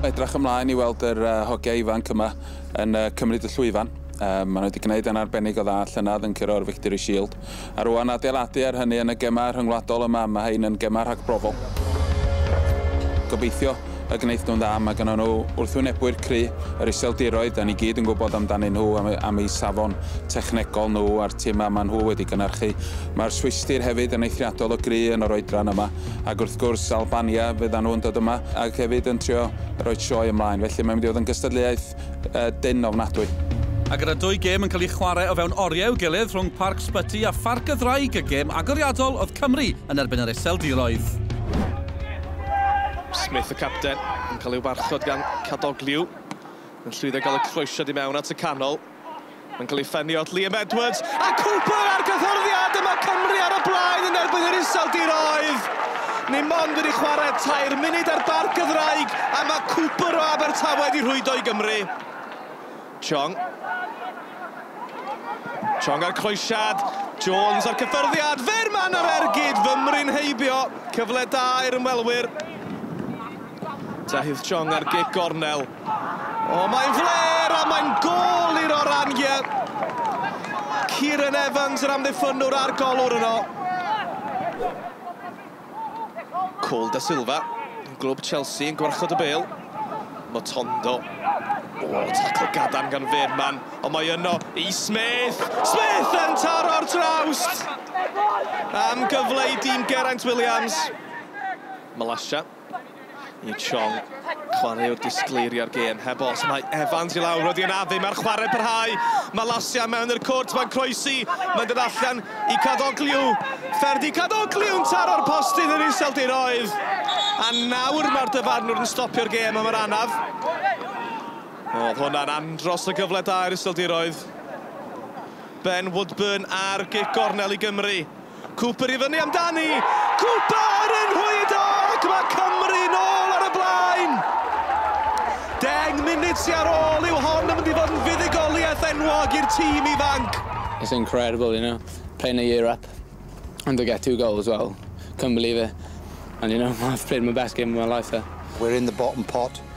Edrach ymlaen i weld yr uh, hogiau ifanc yma yn uh, cymryd y llwyfan. Um, maen nhw wedi gwneud yn arbennig o dda llynedd yn curo'r Victory Shield. A rwan adeiladu ar hynny yn y gemau rhyngwladol yma, mae hein yn gemau rhagbrofol. Gobeithio y gwnaeth nhw'n dda, mae gynnon nhw wrthwynebwyr cry', yr Iseldiroedd, 'dan ni gyd yn gwybod amdanyn nhw am eu am eu safon technegol nhw a'r timau ma' nhw wedi gynhyrchu. Mae'r Swistir hefyd yn eithriadol o gry' yn yr oedran yma, ac wrth gwrs Albania fyddan nhw'n dod yma ac hefyd yn trio rhoi sioe ymlaen, felly mae'n mynd i fod yn gystadleuaeth Cymraeg dynn ofnadwy. A gyda dwy gêm yn cael ei chwarae o fewn oriau i'w gilydd rhwng Parc Sbyty a Pharc y Ddraig, y gêm agoriadol oedd Cymru yn erbyn yr Iseldiroedd. Smith, y capten, yn cael ei warchod gan Cadogliw. Mae'n llwyddo i gael y croesiad i mewn at y canol. Mae'n cael ei ffenni off Liam Edwards, a Cooper ar gyffyrddiad! Dyma Cymru ar y blaen yn erbyn yr Iseldiroedd! Ni mond wedi chwarae tair munud ar Barc y Ddraig, a mae Cooper o Abertawe wedi rhwydo i Gymru. Chong. Chong ar croesiad, Jones ar cyffyrddiad, Fearman ar ergyd, fymru'n heibio, cyfle da i'r ymwelwyr. Deheuth Chong ar gic gornel. O, mae'n fler a mae'n gol i'r Orangia. Kieran Evans yr amddiffynwr a'r golwr yno. Cole da Silva, glwb Chelsea yn gwarchod y bel. Motondo. O, tacl gadarn gan Fearman. Ond mae yno i Smith. Smith yn taro'r trawst! Am gyfle i dîm Geraint Williams. Malasha. Ying Chong, chwarae o'r disgleiriau'r gêm, heb os, mae Evans i lawr, wedi anafu, mae'r chwarae parhau, mae Lasia mewn i'r cwrt, mae'n croesi, mae'n dod allan i Cadogliw, Ferdi Cadogliw'n taro'r postyn yn iseldiroedd, a nawr mae'r dyfarnwr yn stopio'r gêm am yr anaf. Oedd hwnna'n andros o gyfle da i'r iseldiroedd. Ben Woodburn ar gic gornel i Gymru. Cooper i fyny amdani! Cooper yn rhwydo ac mae Cymru nôl ar y blaen! Deng munud sy ar ôl yw hon yn mynd i fod yn fuddugoliaeth enwog i'r tîm ifanc. It's incredible, you know, playing a year up and to get two goals, well, couldn't believe it. And you know, I've played my best game of my life there. We're in the bottom pot,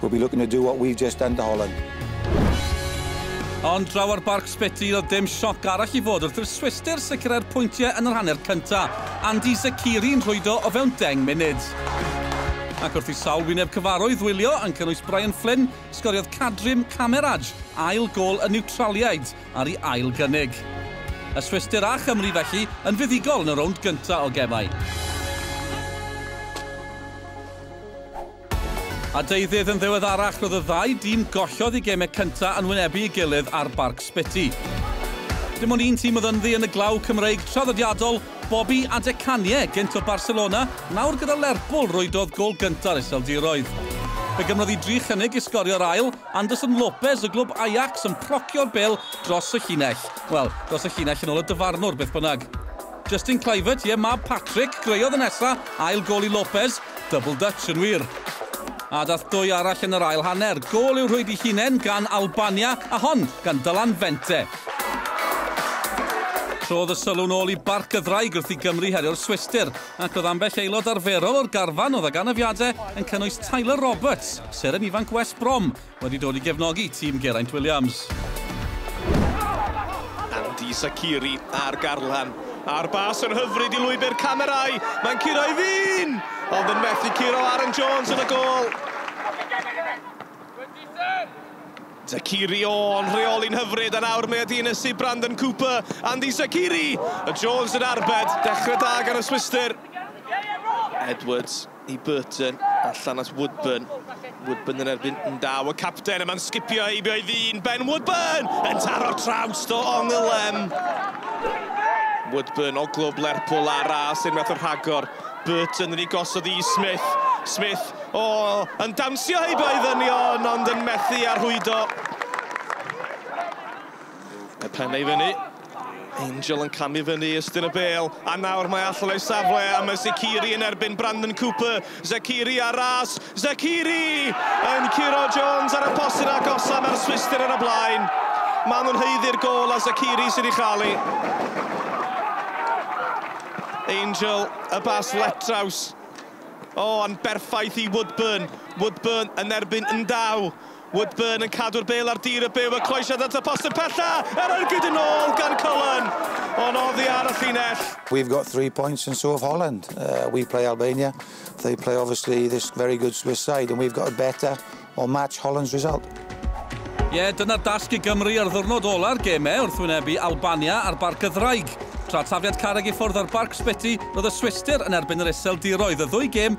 we'll be looking to do what we've just done to Holland. Ond draw ar Barc Spiti, doedd dim sioc arall i fod wrth i'r Swistir sicrhau'r pwyntiau yn yr hanner cynta', Andy Zakiri'n rhwydo o fewn deng munud. Ac wrth i sawl wyneb cyfarwydd wylio, yn cynnwys Brian Flynn, sgoriodd Kadrim Kameraj ail gôl y Niwtraliaid ar ei ail gynnig. Y Swistir a Chymru felly yn fuddugol yn y rownd gynta' o gemau. A deuddydd yn ddiweddarach roedd y ddau dîm gollodd eu gemau cyntaf yn wynebu ei gilydd ar Barc Spiti. Dim ond un tîm oedd ynddi yn y glaw Cymreig traddodiadol, Bobby a De Canie, gynt o Barcelona, nawr gyda Lerpwl, rwydodd gôl gynta'r Iseldiroedd. Fe gymrodd hi dri chynnig i sgorio'r ail, Anderson Lopez o glwb Ajax yn procio'r bel dros y llinell. Wel, dros y llinell yn ôl y dyfarnwr, beth bynnag. Justin Kluivert, ie, mab Patrick, greodd y nesa, ail gol i Lopez, double Dutch yn wir. A dath dwy arall yn yr ail hanner, gol i'w rhwydi hunen gan Albania, a hon gan Dylan Vente. Trodd y sylw'n ôl i Barc y Ddraig wrth i Gymru herio'r Swistir, ac oedd ambell aelod arferol o'r garfan oedd ag anafiadau yn cynnwys Tyler Roberts, seren ifanc West Brom, Wedi dod i gefnogi tîm Geraint Williams. Andy Zakiri ar Garlan, a'r bas yn hyfryd i lwybr camerâu, mae'n curo i fin! Ond yn methu curo Aaron Jones yn y gôl. Zakiri o'n rheoli'n hyfryd, a nawr mae wedi ynysu Brandon Cooper, Andy Zakiri! A Jones yn arbed, dechrau da gan y Swistir. Edwards. i Burton a Llanas Woodburn. Woodburn yn erbyn Ndaw, y capten, yma'n sgipio heibio ei ddyn. Ben Woodburn yn taro'r traws do Ongylem. Woodburn o glwb Lerpwl a ras i'r meth o rhagor. Burton yn ei gosod i Smith. Smith, o, oh, yn dawnsio heibio ei ddynion, ond yn methu a rhwydo. Y pennau i fyny. Angel yn camu fyny ystyn y bel, a nawr mae allan o'i safle, a mae Zekiri yn erbyn Brandon Cooper. Zekiri ar ras, Zekiri! Yn curo Jones ar y posyn a gosa, mae'r Swistir ar y blaen. Mae nhw'n heiddi'r gol a Zekiri sydd wedi chael ei. Angel, y bas letraws. O, yn berffaith i Woodburn. Woodburn yn erbyn Ndaw. Woodburn yn cadw'r bêl ar dir y byw a croesiad at y post yn pella, er ergyd yn ôl gan Cullen, ond oddi ar y llinell. We've got three points and so of Holland. Uh, we play Albania. They play obviously this very good Swiss side and we've got to better or match Holland's result. Ie, yeah, dyna'r dasg i Gymru ar ddwrnod ola'r gemau wrth wynebu Albania ar Barc y Ddraig. Tra tafiad carreg i ffwrdd ar Barc Sbyty, roedd y Swistir yn erbyn yr Iseldiroedd y ddwy gêm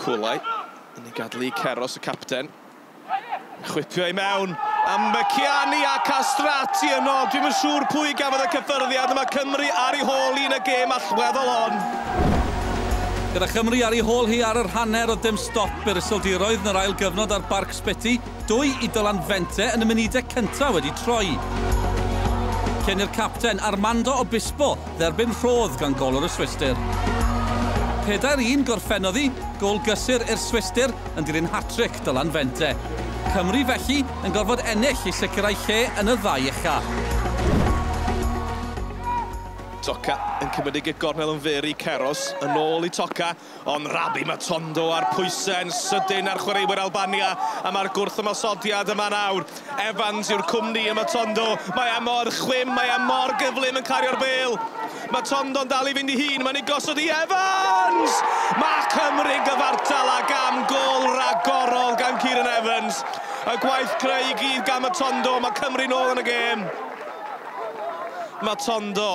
Cwlai yn ei gadlu i Keros, y capten. Chwipio i mewn am Meciani a Castrati yno. Dwi'm yn siŵr pwy gafodd y cyffyrddiad, mae Cymru ar ei hôl hi yn y gêm allweddol hon. Gyda Chymru ar ei hôl hi ar yr hanner o dim stop i'r Iseldiroedd yn yr ail gyfnod ar Barc Sbyty, Dwy i Dylan Vente yn y munudau cyntaf wedi troi cyn i'r capten Armando Obispo dderbyn rhodd gan golwr y Swistir. Pedair un gorffennodd i, gôl gysur i'r Swistir yn dilyn hat-tric Dylan Vente. Cymru felly yn gorfod ennill i sicrhau lle yn y ddau ucha. Toca yn cymydig y gornel yn fyr i Keros, yn ôl i Toca. Ond Rabbi Matondo a'r pwysau yn sydyn ar chwaraewyr Albania a mae'r gwrthymosodiad yma nawr. Evans yw'r cwmni i Matondo. Mae e mor chwim, mae e mor gyflym yn cario'r bêl. Matondo'n dal i fynd i hun, mae'n ei gosod i Evans! Mae Cymru'n gyfartal a gam gol ragorol gan Kieran Evans. Y gwaith creu i gyd gan Matondo, mae Cymru'n ôl yn y gêm. Matondo.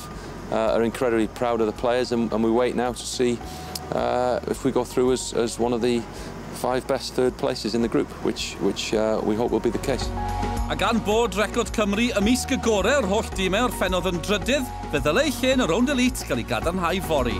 staff uh, are incredibly proud of the players and, and we wait now to see uh, if we go through as, as one of the five best third places in the group, which, which uh, we hope will be the case. A gan bod record Cymru ymysg y gorau o'r holl dîmau o'r ffenodd yn drydydd, fe ddylai ei lle yn y rownd elite gael ei gadarnhau fori.